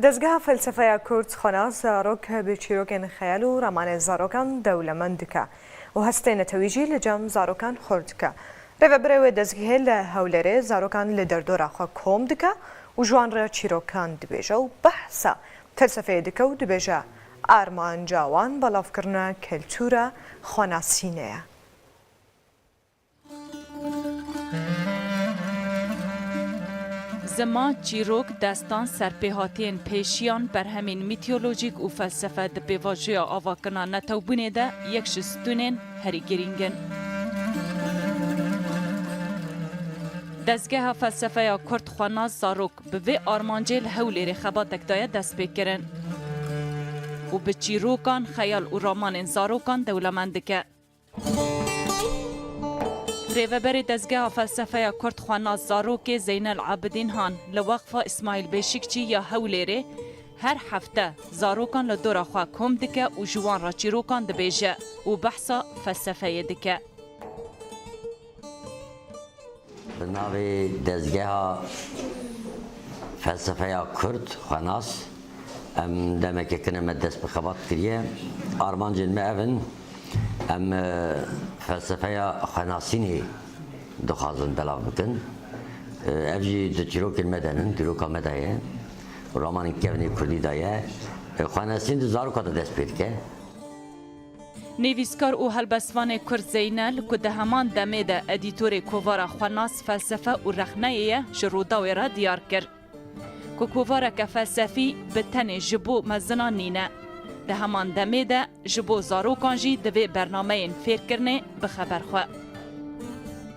Dezgeha Felsefeya Kurd xwe nas zarok bi çîrokên xeyal û ramanên zarokan dewlemend dike û hestê netewî jî li cem zarokan xurt dike. Rêvebirê wê dezgehê li Hewlêrê zarokan li derdora xwe kom dike û ji wan re çîrokan dibêje û behsa felsefeyê dike û dibêje, Armanca wan belavkirina keltûra xwenasînê ye. Zima, çîrok, destan, serpêhatiyên pêşiyan, berhemên mîtolojîk û felsefe di pêvajoya avakirina netewbûnê de yek ji stûnên herî girîng in. Dezgeha felsefeya kurd xwenas Zarok bi vê armancê li Hewlêrê xebatek daye destpêkirin û bi çîrokan, xeyal û ramanên zarokan dewlemend dike. Rêveberê Dezgeha Felsefeya Kurd Xwenas Zarokê Zeynel Abidîn Han li Weqfa Îsmaîl Bêşikçî ya Hewlêrê her hefte zarokan li dora xwe kom dike û ji wan re çîrokan dibêje û behsa felsefeyê dike. Bi navê Dezgeha Felsefeya Kurd xwenas em demeke tune me dest bi xebat kiriye. Armancên me ev in, em felsefeya xwenasînê dixwazin belav bikin. Ev jî di çîrokên me de nin, dîroka me de ye. Romanên kevnê kurdî de ye. Xwenasîn di zaroka de dest pê dike. Nivîskar û helbestvanê Kurd Zeynel ku di heman demê de edîtorê kovara Xwenas Felsefe û Rexneyê ye ji Rûdawê re diyar kir ku kovareke felsefî bi tenê ji bo mezinan nîne. Di heman demê de ji bo zarokan jî divê bernameyên fêrkirinê bixeber xwe.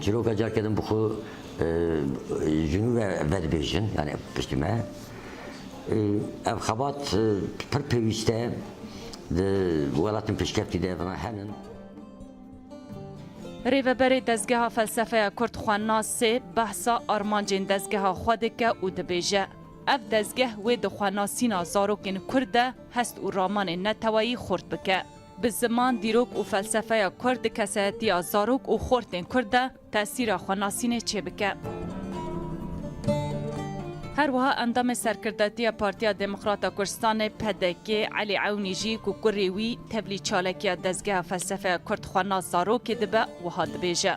Çîroka carke din bi xwe ji nû ve vedibêjin yanî piştî me. Ev xebat pir pêwîst e di welatên pêşkeftî de vana henin. Rêveberê Dezgeha Felsefeya Kurd Xwenasê behsa armancên dezgeha xwe dike û dibêje, Ev dezgeh wê di xwenasîna zarokên Kurd de hest û ramanên neteweyî xurt bike. Bi ziman, dîrok û felsefeya kurd di kesayetiya zarok û xortên kurd de tesîra xwe nasînê çêbike. Her wiha endamê serkirdatiya Partiya Demokrata Kurdistanê, pdk, Elî Ewnî jî ku kurê wî tevlî çalakiya Dezgeha Felsefeya Kurd xwenas zarokê dibe, wiha dibêje,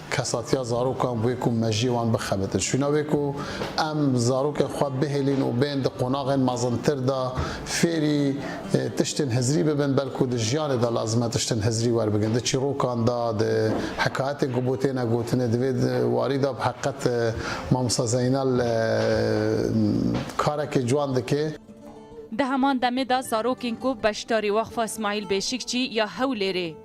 Kesatiya zarokan bûye ku mejiyê wan bixebitin. Şûna wê ku em zarokên xwe bihêlîn û bên di qonaxên mezintir de fêrî tiştên hizirî bibin, belku di jiyanê de lazim e tiştên hizirî werbigrin. Di çîrokan de, di hekayetên ku bo têne gotinê, di vê warî de bi heqet Mamosta Zeynal karekê ciwan dike. Di heman demê de zarokên ku beşdarî Weqfa Îsmaîl Bêşikçî ya Hewlêrê,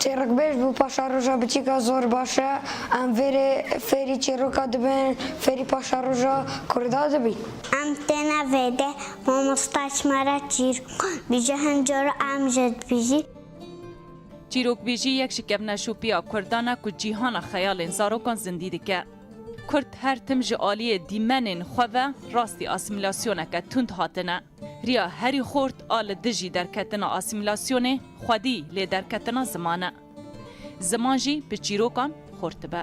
Çêrokbêj bû paşaroja biçîk e zor baş e em vêrê fêrî çêroka dibin fêrî paşaroja kurda dibîn. Em têne vêde mamosta çima re çîrok bîje hin cor em ji dibîjî. Çîrokbêjî yek ji kevneşopiya kurdan e ku cîhana xeyalên zarokan zindî dike. Kurd her tim ji aliyê dîmenên xwe ve rastî asîmîlasyoneke tund hatine. Riya herî xort a li dijî derketina asîmîlasyonê xwedî lê derketina ziman e. Ziman jî bi çîrokan xort dibe.